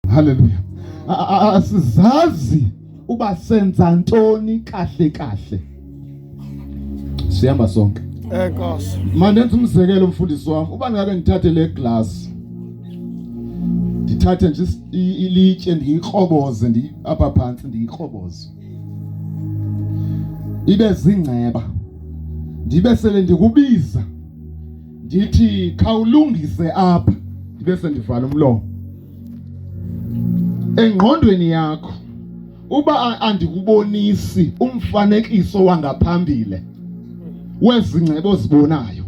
Haleluya. Asizazi uba senza ntoni kahle kahle. Sihamba sonke. Enkosi. Eh, Mandenza umzekelo mfundisi wami. Uba ngake ngithathe le glass. Ndithathe nje ilitye ndiyikroboze ndi apha phansi ndiyikroboze. Ibe zingceba. Ndibe sele ndikubiza. Ndithi khawulungise apha. Ndibe sendivala umlomo. engqondweni yakho uba andikubonisi umfanekiso wangaphambile wezingcebo ozibonayo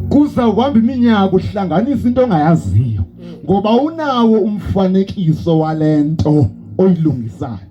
kuza kuhamba iminyaka uhlanganisa into ongayaziyo ngoba unawo umfanekiso wale nto oyilungisayo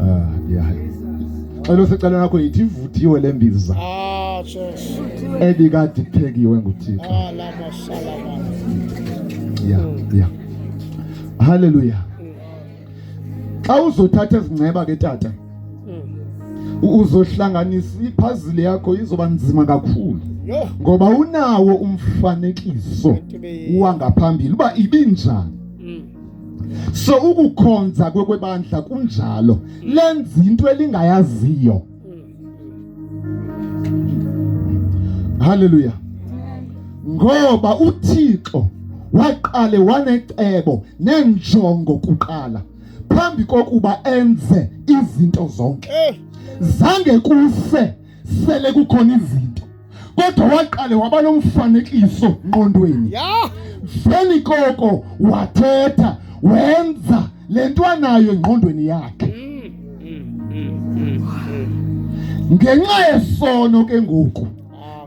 Ah, Cela usicela nakho yithi ivuthiwe le mbiza. Ah, Jesu. Ebikade iphekiwe nguThixo. Ah, la mashala baba. Yeah, yeah. Hallelujah. Xa uzothatha ezinceba ke tata. Uzohlanganisa iphazile yakho izoba nzima kakhulu. Ngoba unawo umfanekiso wangaphambili uba ibinjani. so ukukhonza kwekwebandla kunjalo lenza into elingayaziyo haleluya ngoba uthixo waqale wanecebo nenjongo kuqala phambi kokuba enze izinto zonke eh. zange kufe sele kukhona izinto kodwa waqale waba nomfanekiso ngqondweni yeah. veni koko wathetha wenza le nto anayo engqondweni yakhe ngenxa yesono ke ngoku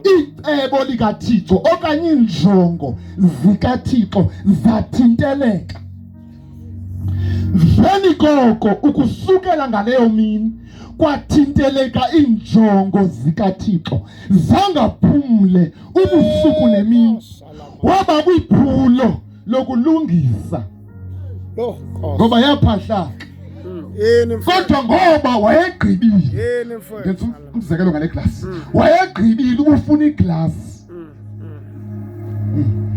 icebo likathixo okanye iinjongo zikathixo zathinteleka Mveni koko ukusukela ngaleyo mini kwathinteleka iinjongo zikaThixo zangaphumle ubusuku nemini waba kwiphulo lokulungisa ngoba yaphahlaka hmm. kodwa ngoba wayegqibile umzekelo ngale glasi mm. wayegqibile ubufuna iglasi mm, mm.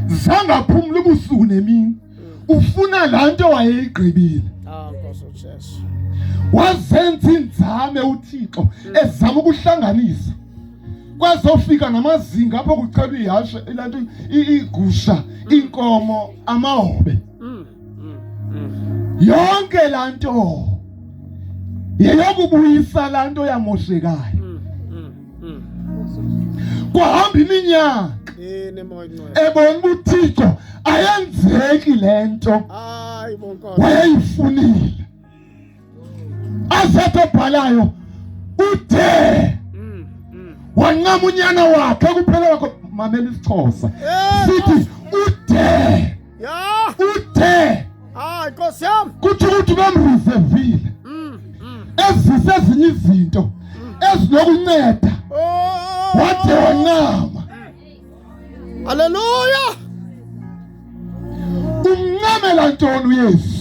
zangaphumla ubusuku nemini ufuna laa nto wayeyigqibile ah, wazenza iinzame uthixo ezama ukuhlanganisa kwazofika namazinga apho kuchelwa ihashe ilanto iigusha iinkomo amahobe yonke laa nto yeyokubuyisa laa nto yamoshekayo kwahamba iminyaka ebona uba uthixo ayenzeki le nto wayeyifunile asetobhalayo uthe mm, mm. wancamunyana wakhe kuphela wakho mamela isixhosa eh, sithi uthe uthe ah, kuthi ukuthi bamrivevile mm, ezise ezinye izinto ezinokunceda oh. wade wancama Haleluya! Uncamela ntoni uYesu?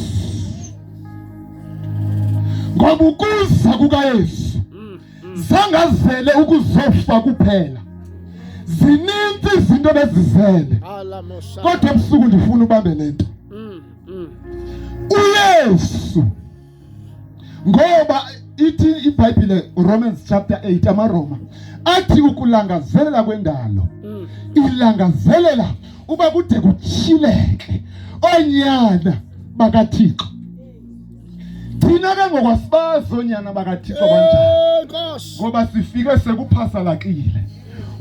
Ngoba ukuza kukaYesu mm, mm. zangazele ukuzofa kuphela zininzi izinto bezizele kodwa ebusuku ndifuna ubambe le nto mm, mm. uyesu ngoba ithi ibhayibhile romans chapter 8 amaroma athi ukulangazelela kwendalo mm. ilangazelela uba kude kutyhileke oonyana bakathixo thina ke ngokwasibazi oonyana bakathixo banjani ngoba sifike sekuphasalakile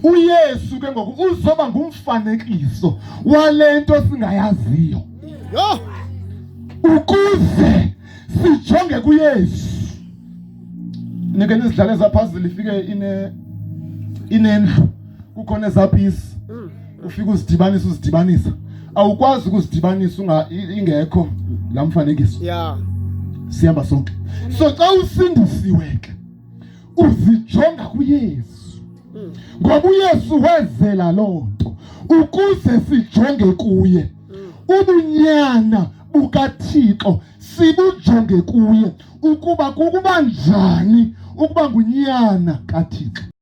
uyesu ke ngoku uzoba ngumfanekiso wale nto singayaziyo Yho! Ukuze sijonge kuYesu. Nike nizidlale zaphazile ifike ine inendlu kukhona ezapisi mm. ufika uzidibanisa uzidibanisa awukwazi ukuzidibanisa unga ingekho la mfanekiso yeah sihamba sonke so xa usindisiwe ke uzijonga kuYesu mm. ngoba uYesu wezela loo nto ukuze sijonge kuye mm. ubunyana bukaThixo sibujonge kuye ukuba kukuba njani ukuba ngunyana kaThixo